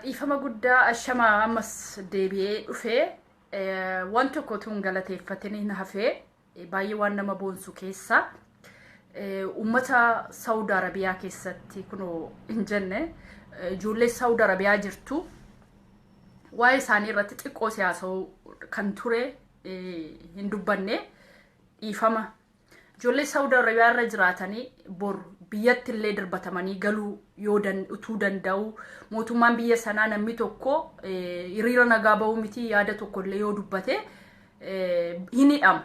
dhiifama guddaa ashama ammas deebi'ee dhufee waan tokko tuun galateeffatee na hafee baay'ee waan nama boonsu keessa uummata saawud arabiyaa keessatti kunoo hin jenne ijoollee saawud arabiyaa jirtu waa'ee isaanii irratti xiqqoo siyaasa'uu kan ture hin dubbanne dhiifama ijoollee Saawud Arabiyaa irra jiraatanii bor biyyatti illee darbatamanii galuu yoo dan- utuu danda'u mootummaan biyya sanaa namni tokko eh, hiriira nagaa ba'uu miti yaada tokko illee yoo dubbate eh, hin hidhamu.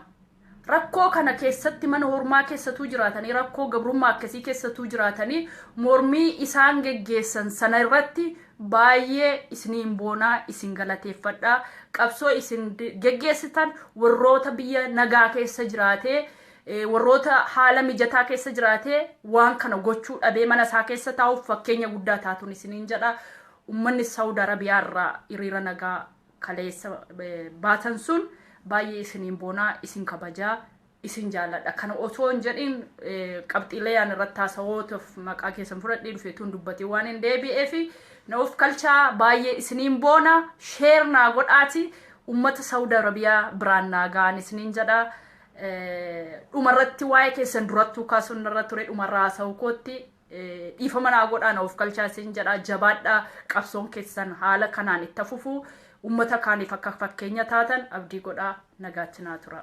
Rakkoo kana keessatti mana hormaa keessatuu jiraatanii rakkoo gabrummaa akkasii keessatuu jiraatanii mormii isaan geggeessan sana irratti Baay'ee isiniin boona, isin galateeffadha. Qabsoo isin geggeessitan warroota biyya nagaa keessa jiraatee, warroota haala mijataa keessa jiraatee waan kana gochuu dhabee mana isaa keessa taa'uuf fakkeenya guddaa taatun isiniin jedha. Ummanni Saawud Arabiyaa irraa hiriira nagaa kaleessa baatan sun baay'ee isiniin boona, isin kabajaa. isin jaalladha. Kana osoo hin jedhin qabxiilee ani irratti haasawootaaf maqaa keessan fudhadhee dhufe tun dubbatee waan hin deebi'ee fi na of kalchaa baay'ee isiniin boona sheer naa godhaati ummata Saawud Arabiyaa biraan naa ga'an isiniin jedha. Dhumarratti waa'ee keessan durattuu kaasuun irra ture dhumarraa haasawuu kootti dhiifama naa godhaa na ofkalchaa isin jedhaa jabaadhaa qabsoon keessan haala kanaan itti fufu ummata kaaniif akka fakkeenya taatan abdii godhaa nagaatti naa tura.